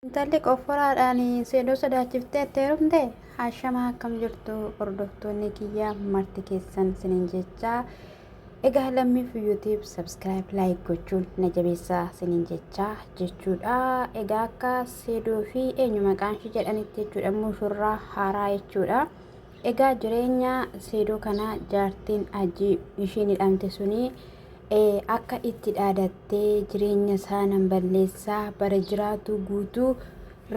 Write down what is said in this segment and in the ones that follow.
Intalli qofforaadhaan seedoo sodaachiftee itti heerumte haashamaa akkam jirtu hordoftoonni kiyya marti keessan sinin jechaa egaa lammiif yuutiib sabskiraayib laayik gochuun na jabeessaa sinin jechaa jechuudha egaa akka seedoo fi eenyu maqaan ishii jedhanitti jechuudha mushurraa haaraa jechuudha egaa jireenya seedoo kana jaartiin ajii ishiin hidhamte sunii ee akka itti dhaadattee jireenya isaa nan balleessaa bara jiraatuu guutuu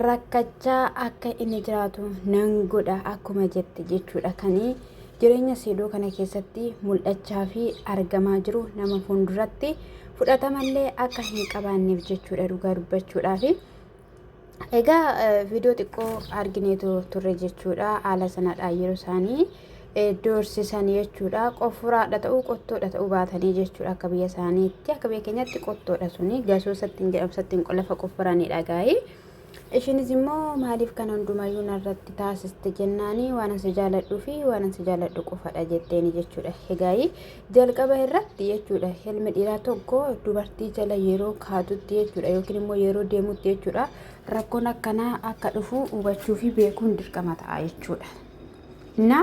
rakkachaa akka inni jiraatu nan godha akkuma jette jechuudha kan jireenya seedoo kana keessatti mul'achaa fi argamaa jiru nama fuulduratti fudhatamallee akka hin qabaanneef jechuudha dhugaa dubbachuudhaaf Egaa viidiyoo xiqqoo argineetu turre jechuudha. Haala sanadha yeroo isaanii doorsisan jechuudha. Qofuraadha ta'uu qottoodha ta'uu baatanii jechuudha akka biyya isaaniitti. Akka biyya keenyatti qottoodha suni gasoo sattiin jedhamu sattiin qolafa qofuranidha gaa'ii. Ishiinis immoo maaliif kan hundumayyuu narratti taasiste jennaanii waan ansi jaaladhuu fi waan ansi jaaladhu qofadha jetteeni jechuudha. Egaa'ii jalqaba irratti jechuudha helmi dhiiraa tokko dubartii jala yeroo kaatutti jechuudha yookiin immoo yeroo deemutti jechuudha rakkoon akkanaa akka dhufu hubachuu fi beekuun dirqama ta'a jechuudha. Na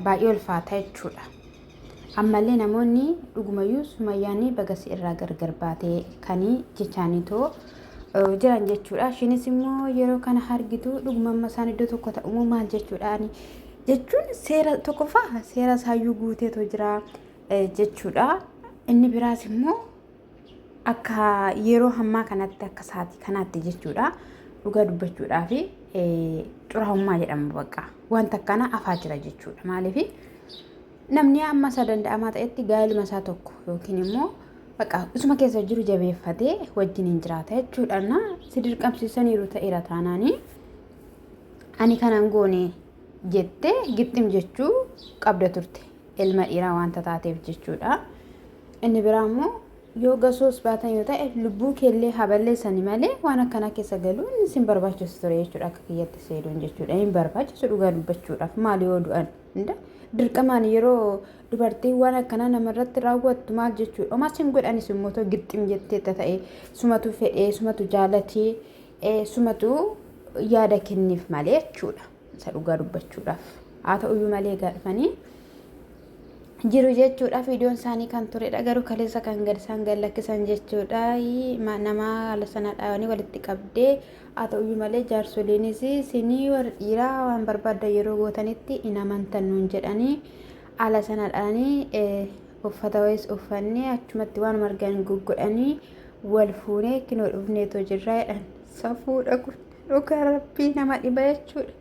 baay'ee ulfaata jechuudha. Ammallee namoonni dhugumayyuu sumayyaanii bagasi irraa gargar baatee kanii jechaanii too jiran jechuudha. Ishiinis immoo yeroo kana hargitu dhugumamma isaan iddoo tokko ta'umoo maal jechuudha. jechuun seera tokkoffaa seera isaayyuu guuteetu jira eh, jechuudha. Inni biraas immoo akka yeroo hammaa kanatti akka sa'aatii kanaatti jechuudha. Dhugaa dubbachuudhaa fi eh, xuraa'ummaa jedhama bakka. Wanta akkana afaa jira jechuudha. Maaliif namni amma isaa danda'amaa ta'etti gaa'iluma isaa tokko yookiin immoo bakka isuma keessa jiru jabeeffatee wajjin hin jiraata jechuudha. Na si dirqamsiisaniiru ta'eera taanaanii. ani kanan goone jette gixxim jechuu qabda turte ilma dhiiraa wanta taateef jechuudha inni biraa immoo yoo gasoos baatan yoo ta'e lubbuu keellee haballeessani malee waan akkanaa keessa galuu inni sin barbaachisu ture jechuudha akka kiyyatti seedoon jechuudha hin barbaachisu dhugaa dubbachuudhaaf maal yoo du'an hunda dirqamaan yeroo dubartiin waan akkanaa namarratti raawwattu maal jechuudha omaa sin godhanis immoo too gixxim jettee ta'e sumatu fedhee sumatu jaalatee Sumatu yaada kenneef malee jechuudha. Isa dhugaa dubbachuudhaaf. Haa ta'uyyuu malee egaa dhufanii jiru jechuudhaaf iddoon isaanii kan turedha garuu kaleessa kan gad isaan gad lakkisan jechuudha nama haala sana dhaabanii walitti qabdee haa ta'uyyuu malee jaarsoliinis sinii warri dhiiraa waan barbaadda yeroo gootanitti hin amantan nuun jedhanii haala sana dhaanii uffata wayis uffannee achumatti waan margan goggodhanii wal fuunee kinoo dhufneetoo jirraa jedhan safuudha kun dhugaa rabbii nama dhiba jechuudha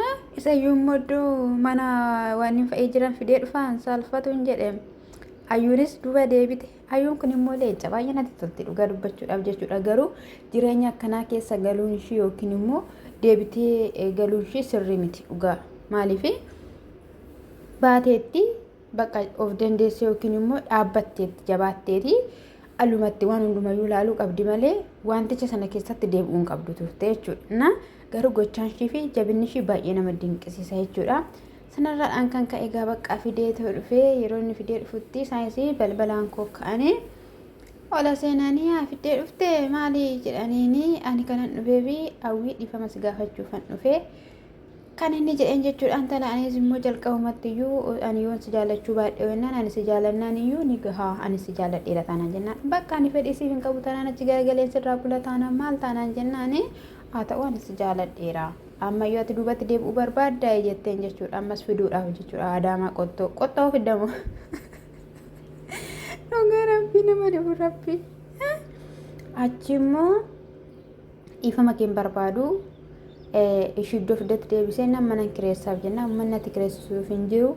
Ah, isa iyyuu immoo iddoo mana waan hin fa'ee jiran fidee dhufaan saalfatuun jedhe ayyuunis duuba deebite ayyuun kun immoo leenca baay'ee natti tolti dhugaa dubbachuudhaaf jechuudha garuu jireenya akkanaa keessa galuun ishii yookiin immoo deebitee eh, galuun ishii sirrii miti dhugaa maaliifi baateetti Bakka of dandeessee yookiin immoo dhaabbatteetti jabaatteeti alumatti waan hundumayyuu ilaaluu qabdi malee wanticha sana keessatti deebi'uu hin qabdu turte jechuudha. Na garuu gochaan ishii fi jabinni ishii baay'ee nama dinqisiisa jechuudha. Sanarraadhaan kan ka'e egaa baqqaa fidee ta'u dhufee yeroo inni fidee dhufutti isaanis balbalaan koo ka'anii ola seenanii haa fidee dhufte maali jedhaniini ani kanan dhufee fi hawwii dhiifama si gaafachuufan dhufee Kan inni jedheen jechuudha intala anis immoo jalqabumatti iyyuu ani yoon si jaallachuu baadhee wennaan ani si jaallannaan iyyuu ni gahaa ani si jaalladheera taanaan jennaan bakka ani fedhii siif hin qabu taanaan achi garagaleen sirraa kula taanaan maal taanaan jennaan haa ta'u ani si jaalladheera amma yoo ati duubatti deebi'uu barbaaddaa jetteen jechuudha ammas fiduudhaaf jechuudha adaamaa qottoo qottoo fiddamu dhugaa rabbii nama dhibu rabbii achi immoo Dhiifama keen barbaadu ishii iddoo fiddatti deebisee nan manan kireessaaf jennaan ummanni ati kireessisuuf hin jiru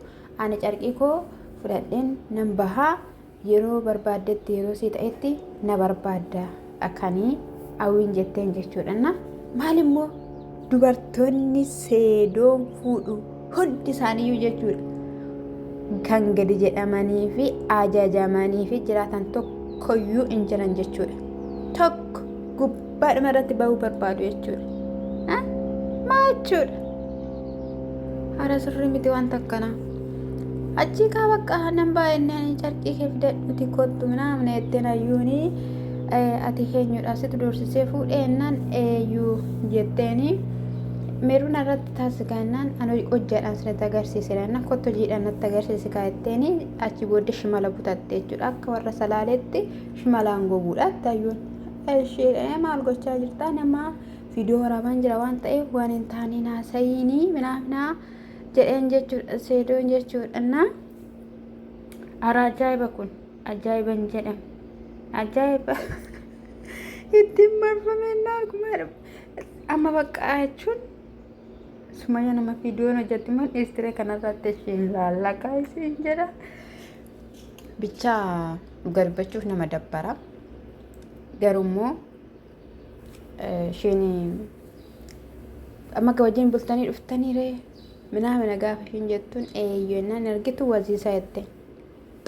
ani carqii koo fudhadheen nan bahaa yeroo barbaaddetti yeroo sii ta'etti na barbaadda akanii hawwiin jetteen jechuudhanna maalimmoo dubartoonni seedoon fuudhu Hundi isaaniiyyuu jechuudha. Kan gadi jedhamanii fi ajajamanii fi jiraatan tokkoyyuu hin jiran jechuudha. Tokko gubbaadhuma irratti bahuu barbaadu jechuudha. Ah, Maa jechuudha? Hara sirrii miti wanta akkanaa. Achii kaa bakka nan baay'inaan carqii kee fidadhuti kottu naamna jetteen hayyuuni eh, ati eenyudha situ doorsisee fuudhee naan eeyyuu jetteeni meeruun irratti Taas gaannaan an hojjaadhaan sinitti agarsiise laannaan kottu hojiidhaan natti agarsiise kaa jetteeni achi booddee shimala butatte jechuudha. Akka warra salaaleetti shimalaan goguudha ittaayyoon. Ishee maal gochaa jirtaa namaa viidiyoo waraabaan jira waan ta'eef waan hin taane naasayiinii minaafinaa jedheen jechuudha seedoon jechuudha. Naa ara ajaa'iba kun ajaa'iba hin jedhamu. Ajaa'iba ittiin marfamee naa akkuma amma baqqaa jechuun. Sumaya nama viidiyoon hojjetti moo dhiistire kanarratti ishiin laallaqaa isiin jedha. Bichaa dhuga dubbachuuf nama dabbara. Garuu immoo ishiin amma wajjin bultanii dhuftanii ree minaa mina gaafa ishiin jettuun eeyyuu innaan argitu waziisa jette.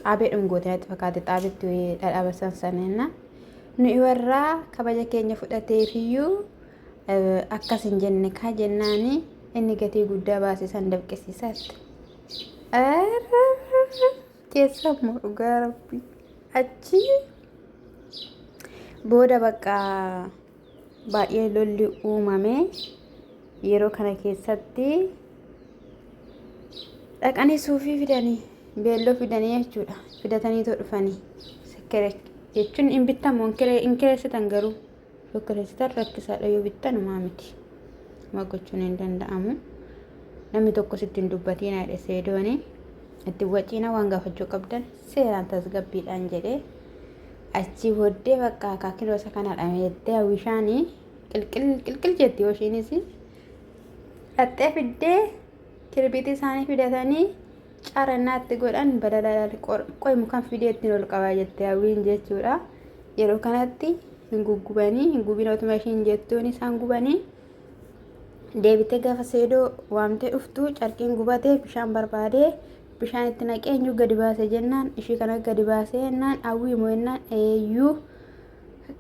Xaabee dhungoote natti fakkaate xaabetti dhadhaa bassan sana innaan. Nuyi warraa kabaja keenya fudhateefiyyuu Akkas hin jenne kaa jennaani inni gatii guddaa baase san dabqisiisaatti. Keessa immoo dhugaa rabbi achi booda bakka baay'ee lolli uumame yeroo kana keessatti dhaqanii suufii fidanii beelloo fidanii jechuudha fidatanii too dhufanii jechuun hin bittamu hin kireessitan garuu. Tokkeessitan rakkisaadha yoo bittan homaa miti. Homaa gochuun hin danda'amu. Namni tokko sitti hin dubbatiina jedhe seedooni. Itti waciina waan gaafachuu qabdan seeraan tasgabbiidhaan jedhee achii booddee bakka akaakiloo isa kana dhameettee hawwishaanii qilqil qilqil jetti yoo ishiinis dhaxxee fiddee kirbiitii isaanii fidatanii Cara naatti godhan balalal qoy mukan fidee ittiin ol qabaa jette hawwiin jechuudha. Yeroo kanatti hin guggubanii hin gubin otuma ishiin jettuun isaan gubanii deebitee gaafa seedoo waamtee dhuftu carqiin gubatee bishaan barbaadee bishaan itti naqee eenyu gadi baase jennaan ishii kana gadi baasee jennaan hawwii moo jennaan eeyyuu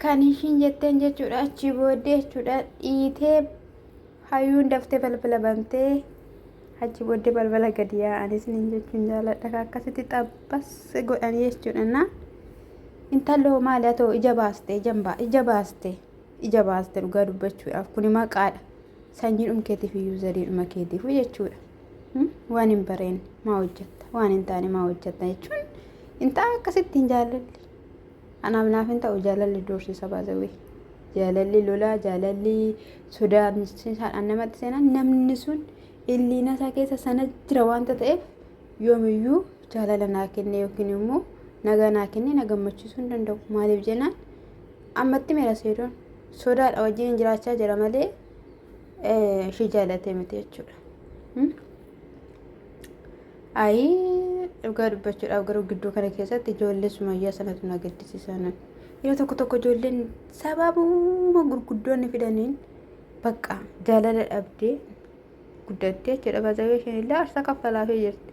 kan ishiin jetteen jechuudha achii booddee jechuudha dhiitee hayyuun daftee balbala bantee. Achi booddee balbala gadi yaa'an isiniin jechuun jaaladha. Ka akkasitti xabbas godhan jechuudha. Na intaloo maali atoo ija baaste ijan baa ija baaste ija baaste dhugaa dubbachuudhaaf kuni maqaadha. Sanyiidhum keetiif iyyuu zariidhuma keetiif jechuudha. Hmm? Waan hin bareen maa hojjetta waan hin taane maa hojjetta jechuun intaa akkasitti hin jaalladhi. Anaaf naaf hin ta'u jaalalli doorsisa baasawee. Jaalalli lolaa, jaalalli sodaachisuudhaan namatti seenan namni sun illiina isaa keessa sana jira waanta ta'eef yoomiyyuu jaalala naa kenne yookiin immoo nagaa naa kenne na gammachiisuu hin danda'u. Maaliif jennaan ammatti meera seedoon sodaadha wajjin jiraachaa jira malee ishee jaalatee miti jechuudha. Ayii dhugaa dubbachuudhaaf garuu gidduu kana keessatti ijoollee sumayyaa sanatu na gaddisiisaa nan. Yeroo tokko tokko ijoolleen sababuma gurguddoonni fidaniin bakka jaalala dhabdee guddattee jechuudha. Baazawee isheen illee aarsaa kaffalaafii jirti.